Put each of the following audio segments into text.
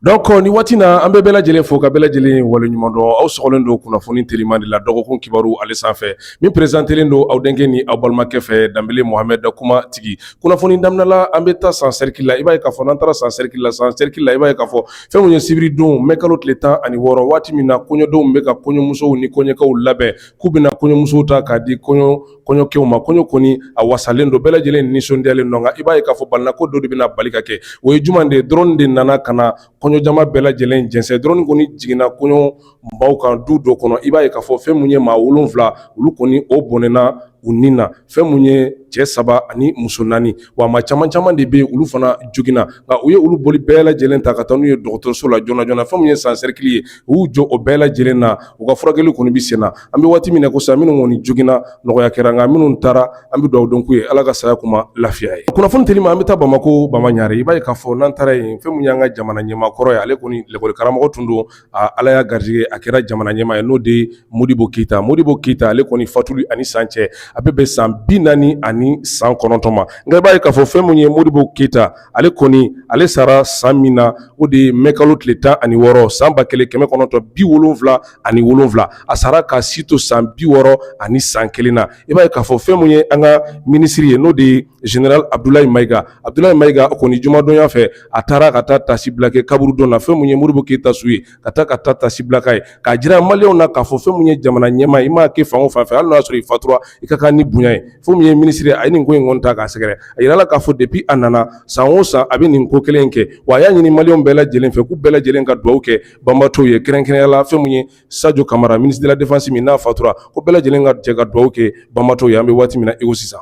donc ni waati na an bɛ bɛɛ lajɛlen fo ka bɛɛ lajɛlen waleɲuman dɔn aw sɔgɔlen don kunnafoni teliman de la dɔgɔkun kibaru ale sanfɛ min perezantelen don aw denkɛ ni aw balimakɛ fɛ danbele mohamɛd kuma tigi kunnafoni daminɛ la an bɛ taa san sɛrikili la i b'a ye k'a fɔ n'an taara san sɛrikili la san sɛrikili la i b'a ye k'a fɔ fɛn min ye sibiridon mɛ kalo tile tan ani wɔɔrɔ waati min na kɔɲɔdenw bɛ ka kɔɲɔmusow ni kɔɲɔkɛw labɛn k'u bɛna kɔɲɔmusow ta k'a di kɔɲɔ kɔɲɔkɛw ma kɔɲɔ kɔni a wasalen don bɛɛ lajɛlen nisɔndiyalen don nka i b'a ye k'a fɔ balinako dɔ de bɛna bali ka kɛ o ye juman de ye drone de nana ka na kɔɲɔjama bɛɛ lajɛlen jɛnsɛn drone kɔni jiginna kɔɲɔbaw kan du dɔ kɔnɔ i b'a ye k'a fɔ fɛn min ye maa wolonwula olu kɔni o bɔnɛna u ni na fɛn min ye cɛ saba ani muso naani wa maa caman caman de bɛ olu fana joginna nka u ye olu boli bɛɛ lajɛlen ta ka taa n'u ye dɔgɔtɔrɔso la joona joona fɛn min ye san sɛrikili ye u y'u jɔ o bɛɛ lajɛlen na u ka furakɛli kɔni bɛ sen na an bɛ waati min na ko sa minnu kɔni joginna nɔgɔya kɛra nka minnu taara an bɛ dugawu dɔn k'u ye ala ka saya k'u ma lafiya ye kunnafoni telima an bɛ taa bamako bamaɲare i b'a ye k'a fɔ n'an taara yen fɛn min y'an ka jamana ɲɛmaa kɔrɔ ye ale kɔni lakɔlikaramɔgɔ tun don ala y'a garijɛgɛ a kɛra jamana ɲɛmaa ye n'o de ye modibo keyita modibo keyita ale kɔni fatuli ani san cɛ a bɛ bɛn san bi naani ani san kɔnɔntɔn ma nka i b'a ye k'a fɔ fɛn min ye modibo keyita ale kɔni ale sara san min na o de ye mɛkalo tile tan ani wɔɔrɔ san ba kelen kɛmɛ kɔnɔntɔn bi wolonwula ani wolonwula a sara ka si to san bi wɔɔrɔ ani san kelen na i b'a ye k'a fɔ fɛn min ye an ka minisiri ye n'o de ye général abudulayi mayiga abudulayi mayiga o kɔni jumadonya fɛ a taara ka taa tasi bila kɛ kaburudon na fɛn min ye modibo keyita su ye ka taa ka taa tasi bila k'a ye k'a jira maliyɛnw na k'a fɔ fɛn min ye jamana ɲɛmaa i m'a kɛ fan o fan fɛ hali n'a y'a sɔrɔ i fatura i ka kan ni bonya ye fɛn min ye minisiri a ye nin ko in kɔni ta k'a sɛgɛrɛ a yirala k'a fɔ depuis a nana san o san a bɛ nin ko kelen in kɛ wa a y'a ɲini maliyɛnw bɛɛ lajɛlen fɛ k'u bɛɛ lajɛlen ka dugawu kɛ banbatɔw ye kɛrɛnkɛrɛnya la fɛn min ye sajo kamara ministre de la défense min n'a fatura ko bɛɛ lajɛlen ka jɛ ka dugawu kɛ banbatɔw ye an bɛ waati min na i ko sisan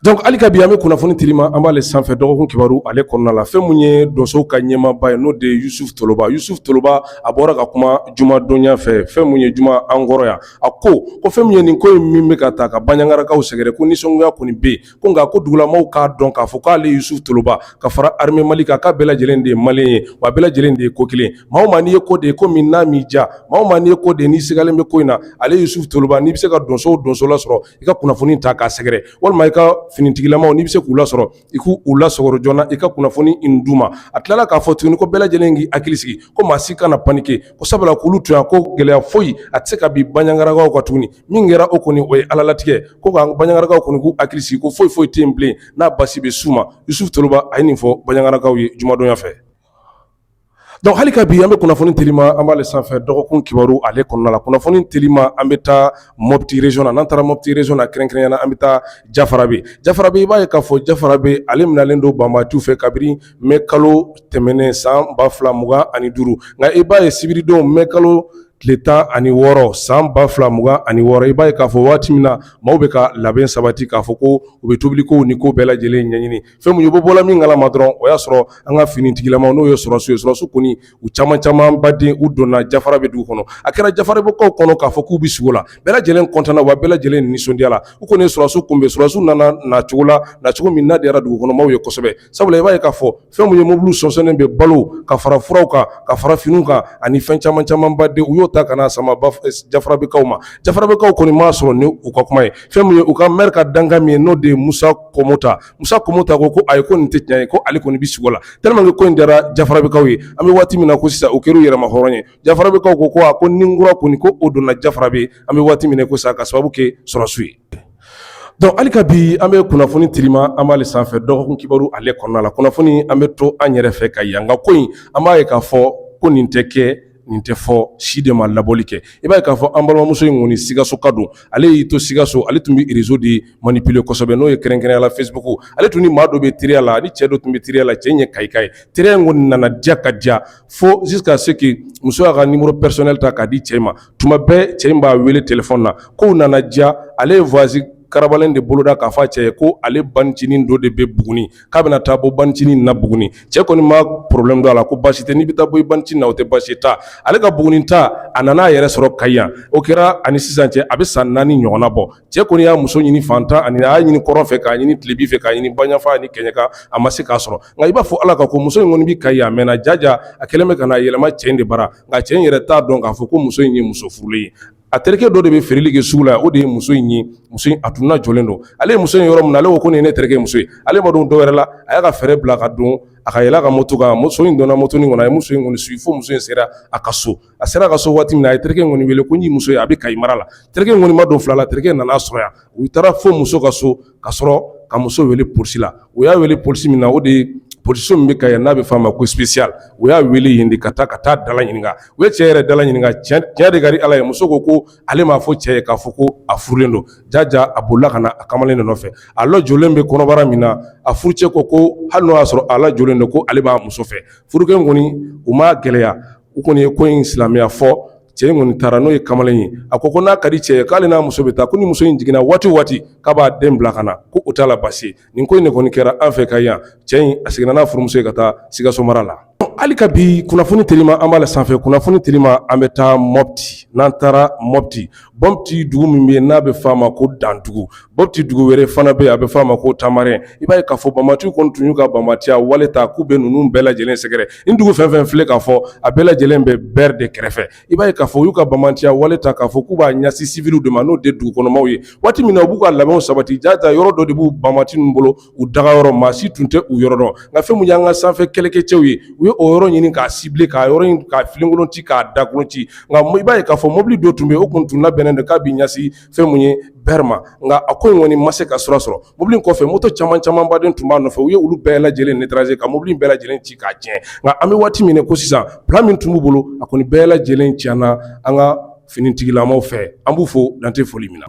donc hali ka bi an bɛ kunnafoni telima an b'ale sanfɛ dɔgɔkun kibaru ale kɔnɔna la fɛn min ye donsow ka ɲɛmaaba ye n'o de ye yusufu toloba yusufu toloba a bɔra ka kuma jumadonya fɛ fɛn min ye juma an kɔrɔ yan a ko ko fɛn min ye nin ko in min bɛ ka taa ka baɲagarakaw sɛgɛrɛ ko nisɔngoya kɔni bɛ yen ko nka ko dugulamaw k'a dɔn k'a fɔ k'ale Yusufu Toloba ka fara armée Mali kan k'a bɛɛ lajɛlen de ye malien ye wa bɛɛ lajɛlen de ye ko kelen maa o maa n'i ye ko de ye ko min n'a m'i diya maa o maa n'i ye ko de ye n'i sigalen bɛ ko in na ale Yusufu Toloba n'i bɛ se ka donso o donso lasɔrɔ i ka kunnafoni ta k'a sɛgɛrɛ walima i ka finitigilamaw n'i bɛ se k'u lasɔrɔ i k'u lasɔrɔ joona i ka kunnafoni in d'u ma a tilala k'a fɔ tuguni ko bɛɛ lajɛlen k'i hakili sigi ko maa si kana panike ko sabula k'olu to yan ko gɛlɛya foyi a tɛ se ka bin Baɲagarakaw kan tuguni min kɛra o kɔni o ye alalatigɛ ko ka Baɲagarakaw kɔni k'u hakili sigi ko foyi foyi tɛ yen bilen n'a basi bɛ s'u ma Yusuf Toloba a ye nin fɔ Baɲagarakaw ye jumadonya fɛ donc hali ka bi an bɛ kunnafoni telima an b'ale sanfɛ dɔgɔkun kibaru ale kɔnɔna la kunnafoni telima an bɛ taa Mɔpti region na n'an taara Mɔpti region na kɛrɛnkɛrɛnnenya la an bɛ taa Jafarabe Jafarabe i b'a ye k'a fɔ Jafarabe ale minɛlen don banbaatu fɛ kabini mai kalo tɛmɛnen san ba fila mugan ani duuru nka i b'a ye sibiridon mai kalo tile tan ani wɔɔrɔ san ba fila mugan ani wɔɔrɔ i b'a ye k'a fɔ waati min na maaw bɛ ka labɛn sabati k'a fɔ ko u bɛ tobilikow ni ko bɛɛ lajɛlen ɲɛɲini fɛn min ye bɔ bɔla min kalama dɔrɔn o y'a sɔrɔ an ka finitigilama n'o ye sɔrɔsiw ye sɔrɔsiw kɔni u caman camanba de u donna Jafarabe dugu kɔnɔ a kɛra Jafarabekaw kɔnɔ k'a fɔ k'u bɛ sugo la bɛɛ lajɛlen kɔntanna wa bɛɛ lajɛlen nisɔndiyala u kɔni ye sɔrɔsiw kunbɛn sɔrɔsiw nana nacogo la nacogo min n'a diyara dugukɔnɔmaaw ye kosɛbɛ sabula i b'a ye k'a fɔ fɛn min ye mobili sɔsɔnen bɛ balo ka fara furaw kan ka fara finiw kan ani fɛn caman camanba de u y'o ta ka na sama Jafarabekaw ma Jafarabekaw kɔni m'a sɔrɔ ni u ka kuma ye fɛn min ye u ka mɛri ka dankan min ye n'o de ye Musa Kɔmota Musa Kɔmota ko ko ayi ko nin tɛ tiɲɛ ye ko ale kɔni bɛ sugo la tellement que ko in diyara Jafarabekaw ye an bɛ waati min na ko sisan u kɛr'u yɛrɛma hɔrɔn ye Jafarabekaw ko ko a ko ni kura kɔni ko o donna Jafarabe an bɛ waati min na ko sisan ka sababu kɛ sɔrɔsiw ye Donc hali ka bi an bɛ kunnafoni telima an b'ale sanfɛ dɔgɔkun kibaru ale kɔnɔna la kunnafoni an bɛ to an yɛrɛ fɛ Kayi yan nka ko in an b'a ye k'a fɔ ko nin tɛ kɛ nin tɛ fɔ si de ma labɔli kɛ i b'a ye k'a fɔ an balimamuso in kɔni Sikasoka don ale y'i to Sikaso ale tun bɛ réseau de manipuler kosɛbɛ n'o ye kɛrɛnkɛrɛnnenya la Facebook ale tun ni maa dɔ bɛ teriya la ni cɛ dɔ tun bɛ teriya la cɛ in ye Kayika ye teriya in kɔni nana diya ka diya fo jusqu'à ce que muso y'a ka numéro personnel ta k'a di cɛ ma tuma bɛɛ cɛ in b'a wele telefɔni na kow nana diya ale ye voyage karalen de boloda k'a fɔ a cɛ ye ko ale bancinin dɔ de bɛ Buguni k'a bɛna taa bɔ bancinin na Buguni cɛ kɔni ma problème don a la ko basi tɛ n'i bɛ taa bɔ i bancinin na o tɛ basi ta ale ka Buguni ta a nana a yɛrɛ sɔrɔ Kayi yan o kɛra ani sisan cɛ a bɛ san naani ɲɔgɔn bɔ cɛ kɔni y'a muso ɲini fan tan naani a y'a ɲini kɔrɔn fɛ k'a ɲini tilebin fɛ k'a ɲini banfa ni kɛɲɛka a ma se k'a sɔrɔ nka i b'a fɔ Ala ka ko muso in kɔni bɛ Kayi a mɛnna jaja a kɛlen bɛ ka yɛlɛma cɛ in de bara nka cɛ in yɛrɛ t'a dɔn k'a fɔ ko muso in ye muso furulen ye a terikɛ dɔ de bɛ feereli kɛ sugu la o de ye muso in ye muso in a tun lajɔlen don ale ye muso in ye yɔrɔ min na ale ko nin ye ne terikɛ muso ye ale ma don dɔwɛrɛ la a y'a ka feere bila ka don a ka yɛlɛ a ka moto kan muso in donna moto in kɔnɔ a ye muso in kɔni suivi fo muso in sera a ka so a sera a ka so waati min na a ye terikɛ in kɔni wele ko n y'i muso ye a bɛ Kayi mara la terikɛ in kɔni ma don fila la terikɛ in nan'a sɔrɔ yan u taara fo muso ka so ka sɔrɔ ka muso wele polisi la u y'a wele polisi min na o de polisiw min bɛ Kayi n'a bɛ f'a ma ko spécial u y'a wele yen de ka taa ka taa dala ɲininka u ye cɛ yɛrɛ dala ɲininka tiɲɛ de ka di Ala ye muso ko ko ale m'a fɔ cɛ ye k'a fɔ ko a furulen don jaja a bolila ka na a kamalen de nɔfɛ a lajɔlen bɛ kɔnɔbara min na a furucɛ ko ko hali n'o y'a sɔrɔ a lajɔlen don ko ale b'a muso fɛ furukɛ in kɔni u m'a gɛlɛya u kɔni ye ko in silamɛya fɔ cɛ in kɔni taara n'o ye kamalen ye a ko ko n'a ka di cɛ ye k'ale n'a muso bɛ taa ko ni muso in jiginna waati waati k'a b'a den bila ka na ko o t'a la basi nin ko in de kɔni kɛra an fɛ kayi yan cɛ in a seginna n'a furumuso ye ka taa sikaso mara la hali ka bi kunnafoni telima an b'a la sanfɛ kunnafoni telima an bɛ taa mɔpti n'an taara mɔpti Mɔti dugu min bɛ yen n'a bɛ f'a ma ko dandugu mɔti dugu wɛrɛ fana bɛ yen a bɛ f'a ma ko tamarɛn i b'a ye k'a fɔ bamatiw kɔni tun y'u ka bamatiya wale ta k'u bɛ ninnu bɛɛ lajɛlen sɛgɛrɛ nin dugu fɛn fɛn filɛ k'a fɔ a bɛɛ lajɛlen bɛ bɛr de kɛrɛfɛ i b'a ye k'a fɔ u y'u ka bamatiya wale ta k'a fɔ k'u b'a ɲɛsin siwiliw de ma n'o de dugukɔnɔmaw ye waati min na u b'u ka labɛnw sabati jaja yɔrɔ dɔ de b'u bamati ninnu bolo u dagayɔrɔ maa si tun tɛ u yɔrɔ dɔn nka fɛn min y'an ka sanfɛ kɛlɛkɛcɛw ye u ye o yɔrɔ ɲini k'a cibler k'a yɔrɔ in k'a filenkolon ci k'a dakolon ci nka i b'a ye k'a fɔ mobili dɔ tun bɛ yen o kun tun labɛnnen don k'a bɛ ɲɛsin fɛn min ye bɛr ma nka a ko in kɔni ma se ka sira sɔrɔ mobili in kɔfɛ moto caman camanba de tun b'a nɔfɛ u ye olu bɛɛ lajɛlen neutraliser ka mobili in bɛɛ lajɛlen ci k'a tiɲɛ nka an bɛ waati min ko sisan plan min tun b'u bolo a kɔni bɛɛ lajɛlen tiɲɛna an ka finitigilamaw fɛ an b'u fo dan tɛ foli min na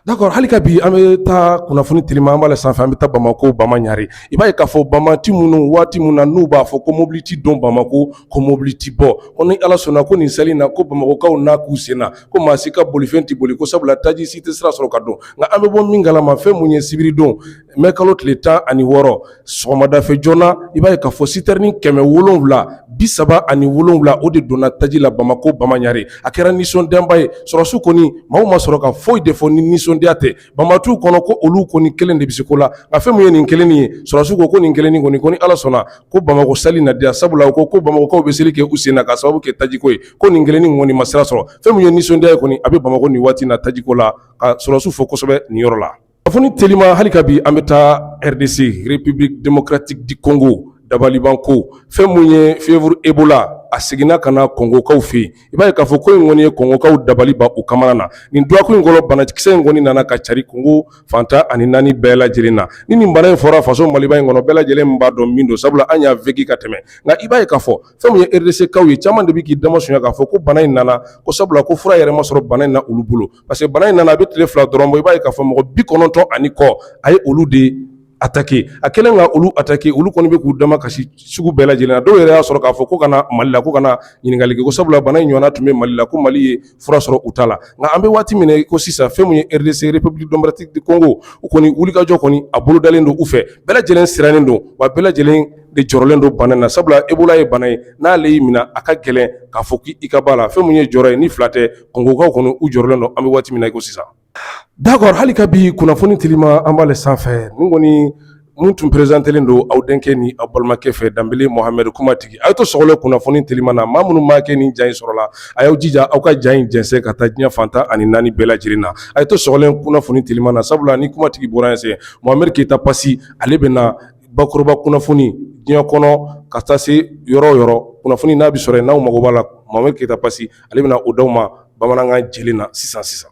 d'accord hali ka bi an bɛ taa kunnafoni telima an b'a la sanfɛ an bɛ taa bamakɔ bama ɲare i b'a ye k'a fɔ bamati minnu waati min na n'u b'a fɔ ko mobili ti don bamakɔ ko mobili ti bɔ ko ni ala sɔnna ko nin seli na ko bamakɔkaw n'a k'u sen na ko maa si ka bolifɛn tɛ boli ko sabula taji si tɛ sira sɔrɔ ka don nka an bɛ bɔ min kalama fɛn mun ye sibiridon Mɛ kalo tile tan ani wɔɔrɔ sɔgɔmadafɛ joona i b'a ye k'a fɔ sitɛrini kɛmɛ wolonwula bi saba ani wolonwula o de donna taji la bamakɔ bama ɲare a kɛra nisɔndiyaba ye sɔrɔdasiw kɔni maaw ma sɔrɔ ka foyi de fɔ ni nisɔndiya tɛ banbatiw kɔnɔ ko olu kɔni kelen de bɛ se ko la nka fɛn min ye nin kelen ye sɔrɔdasiw ko ko nin kelen kɔni ko ni ala sɔnna ko bamakɔ sali na diya sabula u ko ko bamakɔkaw bɛ seli kɛ u sen na ka sababu kɛ tajiko ye ko nin kelen kɔni ma sira sɔrɔ fɛn min ye nisɔndiya ye kɔni a bɛ bamakɔ nin waati na tajiko la ka sɔrɔdasiw fo kosɛbɛ nin yɔrɔ la Afoni telima hali ka bi an bɛ taa RDC République démocratique du Congo dabalibanko fɛn min ye fièvre Ebola a seginna ka na kongokaw fɛ yen i b'a ye k'a fɔ ko in kɔni ye kongokaw dabali ban u kamana gan nin dɔgɔkun in kɔnɔ banakisɛ in kɔni nana ka cari kongo fan tan ani naani bɛɛ lajɛlen na ni nin bana in fɔra faso maliba in kɔnɔ bɛɛ lajɛlen b'a dɔn min don sabula an y'a vécu ka tɛmɛ nka i b'a ye k'a fɔ fɛn min ye RDC kaw ye caman de bɛ k'i dama sɔnya k'a fɔ ko bana in nana ko sabula ko fura yɛrɛ ma sɔrɔ bana in na olu bolo parce que bana in nana a bɛ tile fila dɔrɔn bɔ i b'a ye k'a fɔ mɔgɔ bi kɔnɔntɔn ani kɔ a ye olu de ataki a kɛlen ka olu ataki olu kɔni bɛ k'u dama kasi sugu bɛɛ lajɛlen na dɔw yɛrɛ y'a sɔrɔ k'a fɔ ko ka na mali la ko ka na ɲininkali kɛ ko sabula bana in ɲɔgɔnna tun bɛ mali la ko mali ye fura sɔrɔ u ta la nka an bɛ waati min ko sisan fɛn min ye RDC République démocratique du Congo u kɔni wulikajɔ kɔni a bolodalen don u fɛ bɛɛ lajɛlen sirannen don wa bɛɛ lajɛlen de jɔrɔlen don bana in na sabula Ebola ye bana ye n'ale y'i minɛ a ka gɛlɛn k'a fɔ k'i ka bɔ a la fɛn min ye jɔyɔrɔ ye ni fila tɛ Gkaw kɔni u jɔrɔlen don an bɛ waati min na ko sisan d'accord hali ka bi kunnafoni telima an b'ale sanfɛ nin kɔni minnu tun perezantelen don aw denkɛ ni aw balimakɛ fɛ Danbele Mohamed kumatigi a ye to sɔgɔlen kunnafoni telima na maa minnu maa kɛ ni ja in sɔrɔla a y'aw jija aw ka ja in jɛnsɛn ka taa diɲɛ fan tan ani naani bɛɛ lajɛlen na a ye to sɔgɔlen kunnafoni telima na sabula ni kumatigi bɔra yen sen Mohamed keyita pasi ale bɛ na bakuruba kunnafoni diɲɛ kɔnɔ ka taa se yɔrɔ o yɔrɔ kunnafoni n'a bɛ sɔrɔ yen n'aw mago b'a la Mohamed keyita pasi ale bɛna o di aw ma bamanankan jɛlen na sisan sisan.